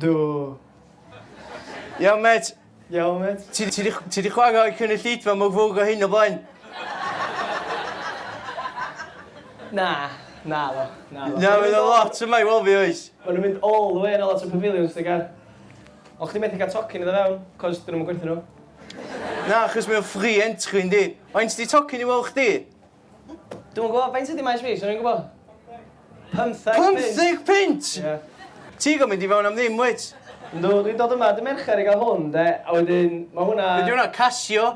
Do. Iawn met. Iawn met. Ti, ti, ti di chwarae o'r cynulleidfa mwgfwg o hyn o blaen? Na, na ddo. Na, ddo. Na, mae'n lot yma i weld fi oes. Mae nhw'n mynd all the way yn lot o pavilions, dy gar. Ond chdi methu cael tocyn iddo fewn, cos dyn nhw'n gwerthu nhw. Na, chos mae'n free entry, yndi. Faint di tocyn i weld chdi? Dwi'm yn gwybod, faint ydi Maes B? 'swn i'n gwybod? Pymtheg punt! Pymtheg punt! Ie. Ti go mynd i fewn am ddim wyt? Yndw, dwi'n dod yma dy Mercher i gael hwn de, a wedyn ma' hwnna... Be' 'di hwnna, Casio?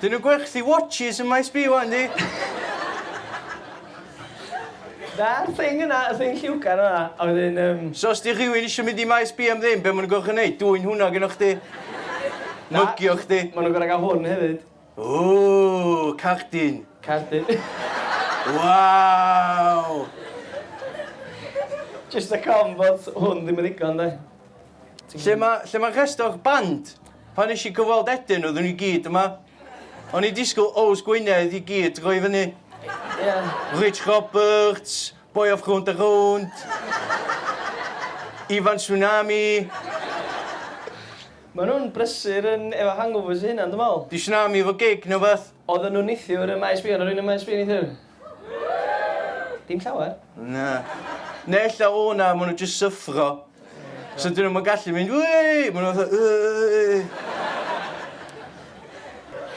Dyn nhw'n gwerthu watches ym Maes B ŵan yndi? Na'r thing yna, y thing lliwgar yna, a wedyn yym... So os 'di rhywun isio mynd i Maes B am ddim, be' ma' nhw'n gorfod neud? Dwyn hwnna gynnoch chdi? Na. Mygio chdi? Ma' nhw'n gorfod ga'l hwn hefyd. Ooh! Cardyn! Cardyn. Waw! Jyst y cofn bod hwn ddim yn ddigon 'de? Lle ma' lle ma' rhestr o'r band? Pan nesh i cyfweld Eden oeddwn nhw i gyd yma. O'n i disgwyl Owls Gwynedd i gyd droi fyny. Ie. Rich Roberts, Boy of Rownd a Rownd, Ifan Tsunami. Maen nhw'n brysur yn efo hangovers eu hunan dwi'n meddwl. Di Tsunami efo gig neu wbath? Oedden nhw neithiwr ym Maes B, oedd 'na rywun ym Maes B neithiwr? Dim llawer? Na. Naill a o'na, maen nhw jyst syffro. So dyn nhw'n ma'n gallu mynd, wei! Maen nhw fatha, yy.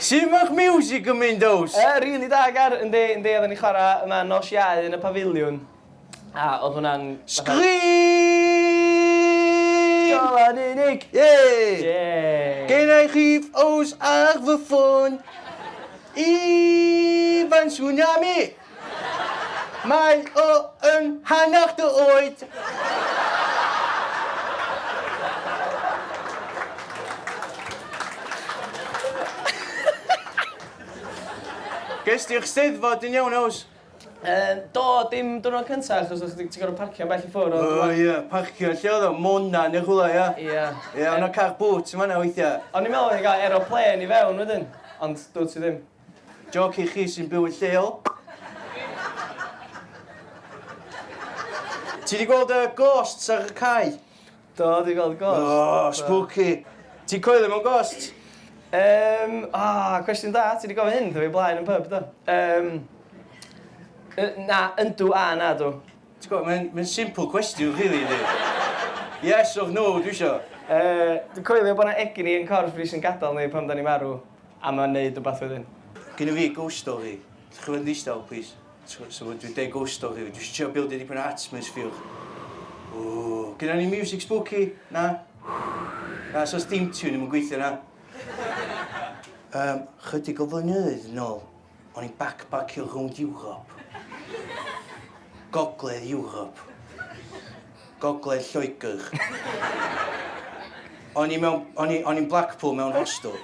Sut mae'ch miwsig yn mynd, Ows? Yy, rili da, Gar. Yndi, yndi, oedden ni'n chwarae yma nos Iau yn y Pafiliwn. A, oedd hwnna'n... Sgrin! Golau yn unig! Ie! Ie! Genna i chif os ar fy ffôn. Ifan Tsunami! Mae o yn hanner dy oed! Ges di'r Steddfod yn iawn, Ows? Yy do, dim diwrnod cynta achos o' chdi ti gor'o' parcio bell i ffwr' ond... O ie parcio lle odd o? Mona ne' rhwla ia? Ia. Ia o' 'na car boot yn fanna weithia. O'n i me'wl o'n i'n ga'l aeroplên i fewn wedyn ond dw't ti ddim. Jôc i chi sy'n byw yn lleol. Ti 'di gweld y ghosts ar y cae? Do, dwi 'di gweld ghost. O, spooky! Ti'n coelio mewn ghosts? Yym, o, cwestiwn da, ti 'di gofyn hyn wrtha fi o blaen yn pyb, do? Yym, yy, na, yndw a nadw. Ti'n gwbod, mae'n mae'n simple cwestiwn rili, yndi? Yes or no dwi isio. Yy, dwi'n coelio bod 'na egni yn corff ni sy'n gadael ni pan 'dan ni'n marw, a mae'n neud wbath wedyn. Gynna fi ghost story. Dach chi'n bod yn ddistaw, plîs? So, so dwi deg ghost o fi, dwi eisiau trio bildio dipyn o atmosphere. Ww, gyda ni music spooky? Na? Na, so steam tune ddim yn gweithio na? Um, chydig o flynyddoedd yn ôl, o'n i'n backpackio rhwng Europe. Gogledd Europe. Gogledd Lloegr. O'n i mewn... o'n i... o'n i'n Blackpool mewn hostel.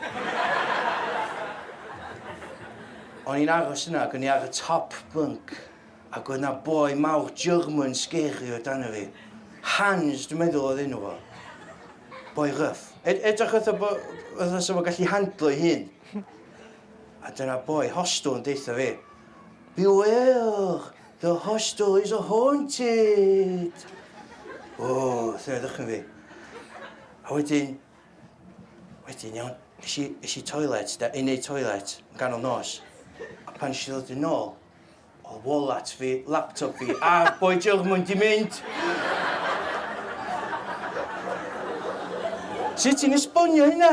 O'n i'n aros yna ac o'n i ar y top bunk ac oedd 'na boi mawr German scary o dan fi. Hans dwi'n meddwl oedd enw fo. Boi rough. Ed- edrych fatha bo- fatha 'sa fo'n gallu handlo'i hun. A dyna boi hostel yn deutha fi Beware! The hostel is a haunted! O, sefydwch yn fi. A wedyn, wedyn iawn, is i, is i toilet, da, i neud toilet, yn ganol nos. A pan eisiau ddod yn ôl, o wallet fi, laptop fi, a boi jylch mwyn di mynd. Sut ti'n esbonio hynna?